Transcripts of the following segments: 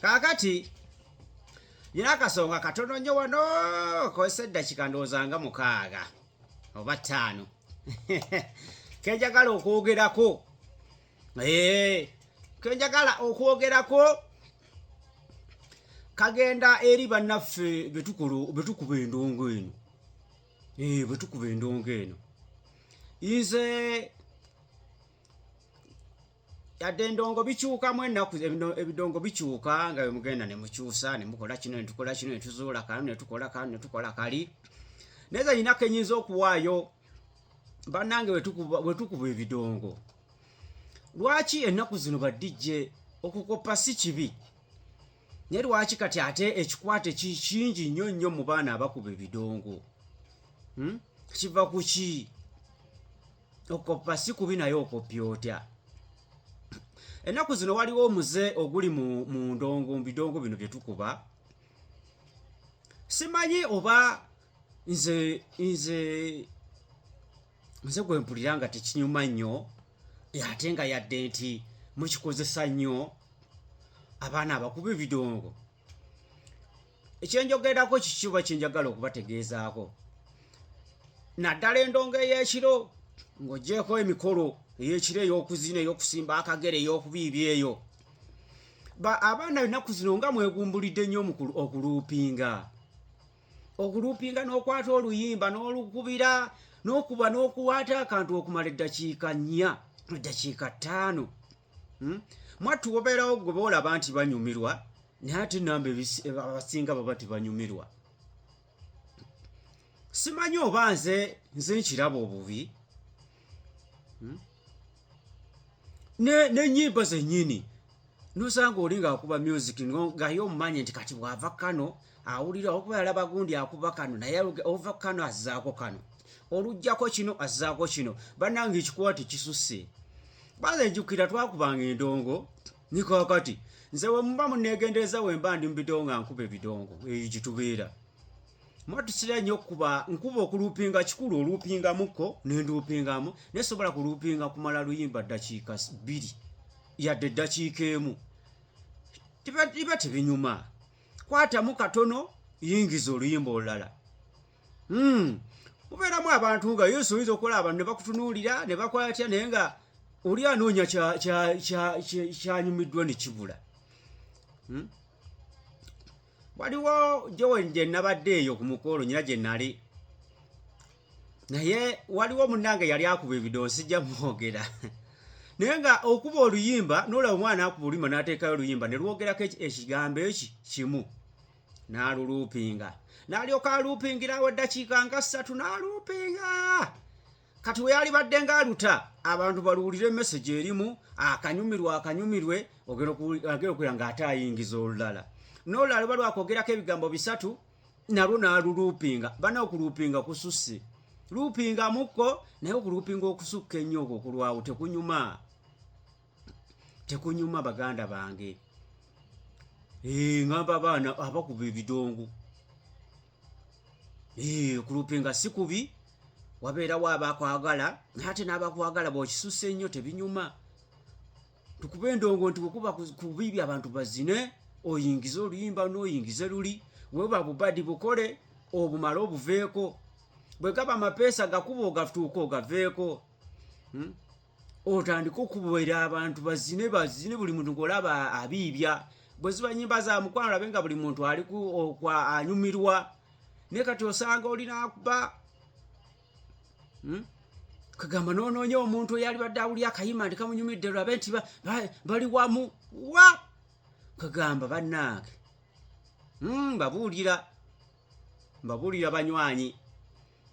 kaakati nyina akasonga katono nnyo wano kozesa eddakika ndowooza nga mukaaga oba ttaano kenjagala okwogerako kenjagala okwogerako kagenda eri bannaffe betukulu betukuba endongo eno betukuba endongo eno nze yadde endongo bikyukamu ennaku ebidongo bikyuka nga bemugenda nemukyusa nemukola kino netukola kino netuzuula kano netukola kano netukola kali naye ze yinako enyinza okuwaayo bannange wetukuba ebidongo lwaki ennaku zino badijje okukoppa si kibi naye lwaki kati ate ekikwate kingi nnyo nnyo mu baana abakuba ebidongo hmm? kiva ku ki okoppa si kubi naye okoppya otya ennaku zino waliwo omuze oguli mu ndongo mu bidongo bino bye tukuba simanyi oba nze nze nze gwe mpulira nga tekinyuma nnyo ate nga yadde nti mukikozesa nnyo abaana abakuba ebidongo ekyenjogerako kikiba kyenjagala okubategeezaako naddala endongo ey'ekiro ng'ogyeko emikolo ey'ekiro ey'okuzina ey'okusimba akagere ey'okubiibi eyo abaana ennaku zino nga mwegumbulidde nnyo okuluupinga okuluupinga n'okwata oluyimba n'olukubira n'okuba n'okuwaata akantu okumala eddakiika nnya eddakiika ttaano hmm? mwattu wobeerawo gwe boolaba nti banyumirwa naye ate namba abasinga baba tebanyumirwa simanyi oba nze nze nkiraba obubi hmm? nenyimba zenyini nosanga oli ngaakuba music ngaye omumanyi nti kati bwava kano awulira okuba yalaba gundi akuba kano naye ova kano azzaako kano olujjako kino azzaako kino bannange ekikuwa tekisusse baze njukira twakubanga endongo nikakati nze wemuba munegendereza wemba ndi mubidongo nga nkuba ebidongo eyo gitubeera mwatusira nnyo okukuba nkuba okuluupinga kikulu oluupingamuko nenduupingamu naye sobola kuluupinga kumala luyimba ddakiika bbiri yadde eddakiika emu tiba tebinyuma kwatamu katono yingiza oluyimba olulala hmm. mubeeramu abantu nga yesu oyinza okukola abantu ne bakutunuulira ne bakola atya naye nga oli anoonya kyanyumiddwa ne kibula hmm? waliwo jowen gye nabadde eyo ku mukolo nyina gye nali naye waliwo munnange yali akuba ebido nsijja mwogera naye nga okuba oluyimba nolaba omwana akuba oluyimba n'ateekayo oluyimba ne lwogerako ekigambo eki kimu n'aluluupinga n'alyoka aluupingirawo eddakiika nga ssatu n'aluupinga kati we yalibadde ng'aluta abantu baluwulire emesegi erimu akanyumirwa akanyumirwe ogera okuwulira ng'ate ayingiza olulala nolala luba lwakogerako ebigambo bisatu nalwo naluluupinga bana okuluupinga kususse luupinga mukko naye okuluupinga okusukka ennyo okwo kulwawo tekunyuma tekunyuma baganda bange eh, ngamba abaana abakuba ebidongo eh, okulupinga si kubi wabeerawo abakwagala naye ate n'abakwagala bwokisusse ennyo tebinyuma tukuba endongo nti bwekuba kubibi abantu bazine oyingize oluyimba noyingize luli weba bubadi bukole obumale obuveeko bwegaba amapeesa gakuba ogatuuka ogaveeko hmm? otandike okubera abantu bazine bazine buli muntu ngolaba abiibya bweziba nyimba za mukwano labe nga buli muntu ali anyumirwa naye kati osanga olinakuba hmm? kagamba nononya omuntu eyali badde awuli akayima nti kamunyumidde lwabe nti bali wamu wa kagamba bannaage hmm, mbabuulira mbabuulira banywanyi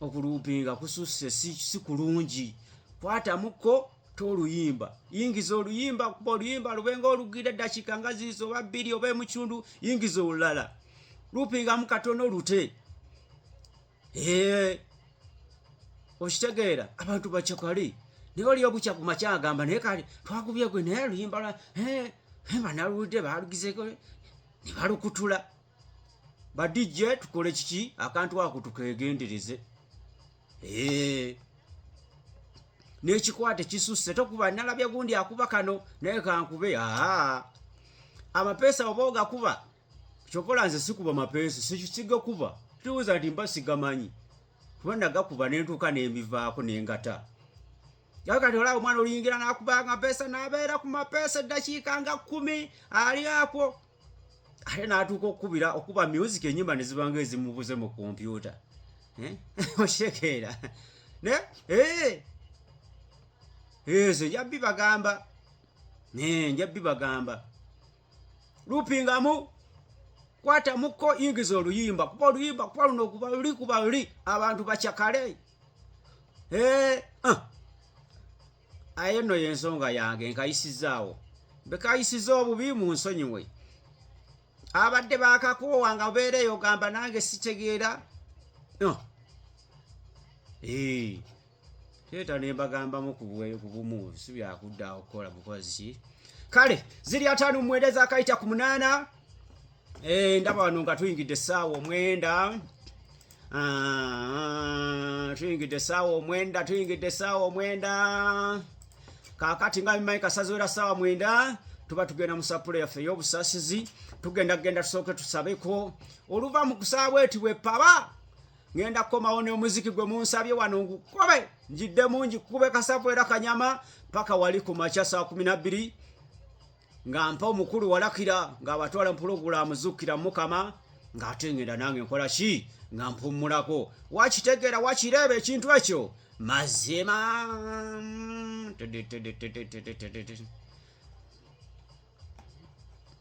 okuluupinga kususse si kulungi kwatamukko toluyimba yingiza oluyimba kuba oluyimba lubenga olugira eddakiika nga ziizi oba bbiri oba emucundu yingiza olulala luupingamu katono lute Eh, okitegeera abantu bacakali naye oli obukya ku makya agamba naye kali twakubye gwe naye luyimba lwa eh, eh, banaluludde balugizeko ne balukutula badijje tukole kiki akantu ako tukegendereze nekikwate kisusse tokuba nalabye gundi akuba kano naye kankube aa amapeesa oba ogakuba kyokola nze sikuba mapeesi sikisiga kuba tuwuza nti mba sigamanyi kuba nagakuba nentuuka nembivaako nengata kati olaba omwana oluyingira nakubanga mpeesa nabeera ku mapeesa eddakiika nga kumi ali akwo ate natuuka okukubira okuba music enyimba nezibanga ezimubuze mu kompyuta eh? oshekeera ne eh! ezo njabbi bagamba eh, njabbi bagamba lupingamu kwata muko yingiza oluyimba kuba oluyimba kuba luno kuba luli kuba luli abantu bacakale eh, ah. aye no yensonga yange nkayisizaawo bekayisiza obubi mu nsonyiwe abadde bakakoowa nga obeera eyo gamba nange sitegeera no. Ah. Eh. leeta ne mbagambamu ku bumu si byakudda okukola bukozi ki kale ziri ataano mumwenda ezakayita ku munaana eh, ndaba wano nga tuyingidde essaawa omwenda ah, tuyingidde essaawa omwenda tuyingidde essaawa omwenda kakati nga bimanyi kasaziwera ssaawa mwenda tuba tugenda mu sapule yaffe ey'obusasizi tugenda kugenda tusooke tusabeko oluva mu kusaawa eti bwepaba ngenda kukomawo n'omuziki gwe munsabye wano ngukobe njidde mungi kube kasavu era kanyama paka wali ku makya saa kumi nabbiri nga mpa omukulu walakira ng'abatwala mpulogulaamu zukkira mukama ng'ate ngenda nange nkola ki nga mpummulako wakitegeera wakireeba ekintu ekyo mazima